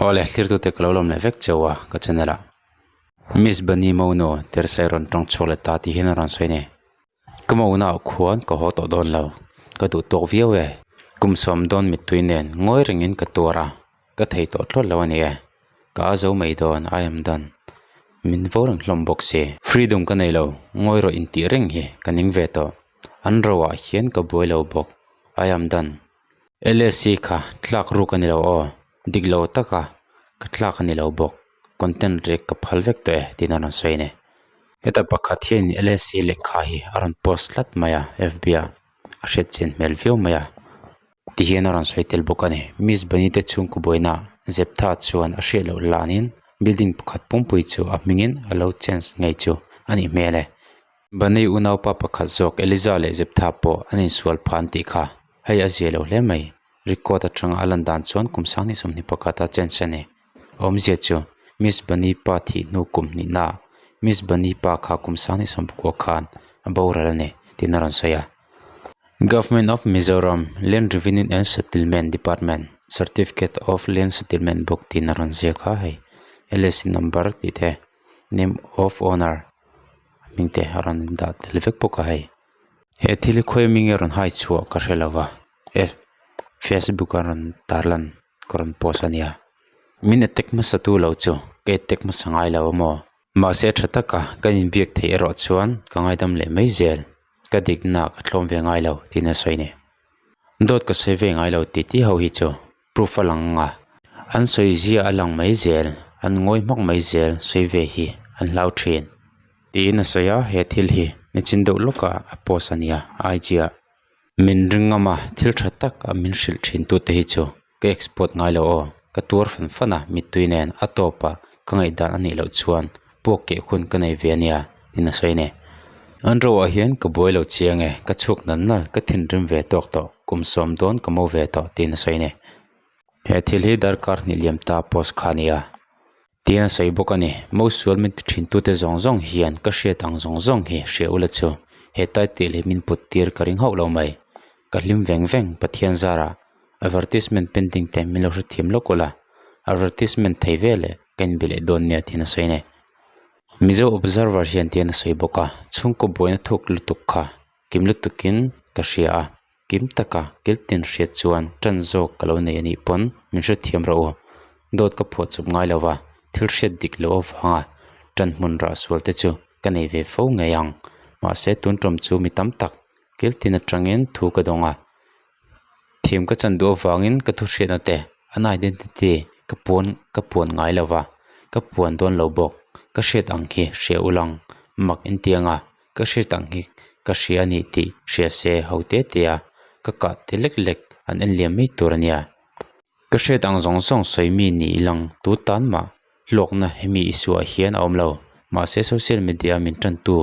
Awle thirtute ka lo lawm leh vek cheu a ka channel ah Miss Bani Mawnu Tersai rawn tawng chhuak leh ta tih hian a rawn sawi ani. Ka Mawna ah khuan ka haw tawh dawn lo, ka duh tawk viau e, kum sawm dawn mittui nen ngawi rengin ka tuar a. ka thei tawh tlawt lo a ni e, ka a zo mai dawn I am done min vo reng hlawm bawk si. Freedom ka nei lo, ngawi rawh intih reng hi ka ning ve tawh, an roah hian ka buai lo bawk I am done. LSC kha tlak ruk a ni lo aw, dik lo taka ka tlak a ni lo bawk, content rek ka phal vek tawh e tiin a rawn sawi a ni. Heta pakhat hian in LSC lehkha hi a rawn post tlat mai a FB-ah, a hriat chin hmel viau mai a. Ti hian a rawn sawi tel bawk a ni. Miss Benitez chhungkaw buaina zeptha chuan a hriat loh lanin building pakhat pumpui chu a hmingin a lo change ngei chu a nih hmel e. Benny unaupa pakhat zawk Eliza leh zeptha pawh an insual pha an tih kha, hei a zia lo hle mai. Record atanga a lan dan chuan kum sanghnih sawmhnih pakhat a change a ni. Awm zia chu, Miss Banipa thih hnu kum hnih na ah, Miss Banipa kha kum sang ni sawm pakua khan a boral a ni, tiin a rawn sawi a. Government of Mizoram Land Revenue and Settlement Department Certificate of Land Settlement bawk tiin a rawn ziak a, hei LSC number tih te, Name of Owner hming te a rawn dah tel vek bawk a hei. He thil khawi minge rawn haichhuah ka hre lo a, F, Facebook a rawn tarlan. ka rawn pawsa nia min attack hmasa tu lo chu ka attack hmasa ngai lo a maw mahse a tha taka kan in biak theih erawh chuan ka ngaidam leh mai zel ka dikna ka thlawm ve ngai lo tiin a sawi nia dawt ka sawi ve ngai lo titi ho hi chu proof a lang anga an sawi zia a lang mai zel an ngawi hmak mai zel sawi ve hi an hlau thin tiin a sawi a he thil hi nichin deuh lawka a post a nia IG ah. min ringawm a thil tha tak a min hrilh thin tute hi chu ka export ngai lo aw ka tuar fan fan a mitui nen a top a ka ngaihdan a nih loh chuan pawk keh hun ka nei ve a nia ti nasawi nei an ropah hian ka buai lo chiang e ka chhuak nal nal ka thinrim ve tawk tawh kum sawm dawn ka mo ve tawh ti nasawi nei he thil hi darkar hnihliam ta post kha a nia Tiin a sawi bawk a ni. Mo sual min ti thin tute zawng zawng hian ka hriat ang zawng zawng hi hria ula chu. Hetlai tih leh min put tir ka ring hauh lo mai. Ka hlim veng veng Pathian zara advertisement painting te min lo hre thiam lawk ula, advertisement thei vel e ka inbe leh dawn nia tiin a sawi a ni. Mizo Observer hian tiin a sawi bawk a, chhungkaw buaina thuk lutuk kha kim lutukin ka hria a. kim taka kil tian hriat chuan tan zawk ka lo nei a nih pawn min hrethiam rawh u dawt ka phuah chawp ngai lo va thil hriat dik loh avanga tan hmun rah sual te chu ka nei ve fo ngei ang mahse tun tawm chu mi tam tak kil tin atangin thu ka dawng a thim ka chan duh avangin ka thu hriatna te an identity ka puan ka puan ngai lo va ka puan dawn lo bawk ka hriat ang khi hria ulh ang mak entianga. ka hriat ang hi ka hria a ni tih hria se ho te te a ka kah ti lek lek an en liam mai tur a nia ka hriat ang zawng zawng sawi mi ni i lang tu tan mah hlawkna hemi isuah hian a awm lo mahse social media ah min tan tu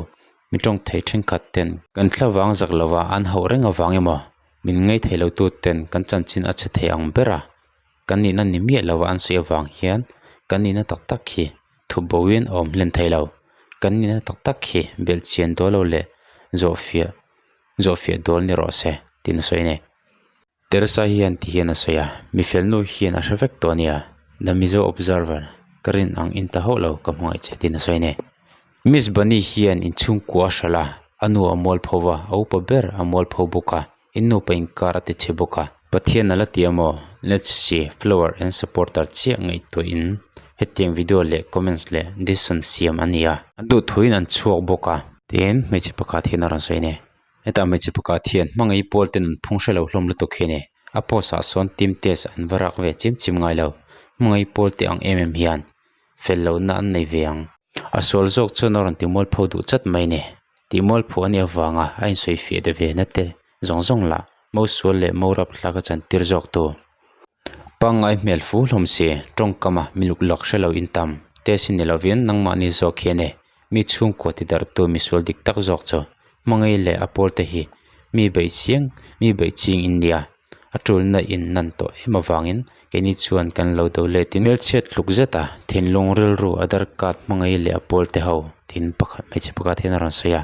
mi tawng thei thenkhat ten kan thla vang zak lo a an hauh reng avang emaw min ngaithei lo tu ten kan chanchin a chhe thei ang ber a. kan nihna ni miah lo an sawi avang hian kan nihna tak tak hi thuboin a awm hlen theilo kan nihna tak tak hi belhchian dawl lo leh zawhfiah zawhfiah dawl ni rawh se tiin a sawi a ni Teresa hian ti hian a sawi a mi felnu hian a hre vek tawh a nia The Mizo Observer ka rinang in ta hauh lo ka hmangaih che tiin a sawi a ni. Miss Bunny hian in chhungkua a hra la, a nu a mual pho va, a upa ber a mual pho bawk a, in nu pa inkar a ti chhe bawk a. Pathian a la ti a maw? Let's see flower and supporter chiah ngaihtuah in hetiang video leh comments leh decision siam a nia. An duhthuin an chhuak bawk a. Tiin hmeichhe pakhat hian a rawn sawi ania, Hetah hmeichhe pakhat hian hmangaih pawl ten an phung hre lo hlawm lutuk hian e, a post ah sawn team test an va rak ve chim chim ngai lo, hmangaih pawl teh ang em em hian. fel lohna an nei ve ang. A sual zawk chuan a rawn timual pho duh chat mai ni. Tihmual pho a nih avanga a insawi fiah de ve nate zawng zawng lah mo sual leh mo rap thlak a chan tir zawk tu pangngai hmel fu hlawm si, tawngkama miluklak hrelo intam te si ni lovin nangmahni zawk hian e. mi chhungkaw ti darh tu misual dik tak zawk chu hmangaih leh a pawl te hi mi bei chiang mi bei ching in nia a tulna in nan tawh em avangin keini chuan kan lo do let in hmelchhiat tluk zeta thinlung rilru a darkat hmangaih leh a pawl te ho thin pakhat hmeichhe pakhat hian a rawn sawi a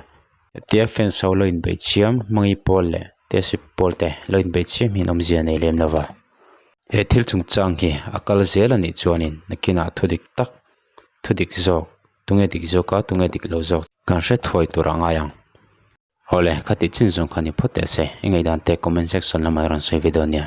hetia fans ho lo in bei chiam hmangaih pawl leh tehsip pawl te lo in bei chiam hi an awm zia nei lem lova he thil chungchang hi a kal zel a nih chuan in nakinah thu dik tak. thudik zawk tunge dik zawk a tunge dik lo zawk kan hre thuai tur a ngai ang awle khati chin zawng kha ni phawt te se i ngei dan te comment section lamah i rawn sawi ve dawn nia.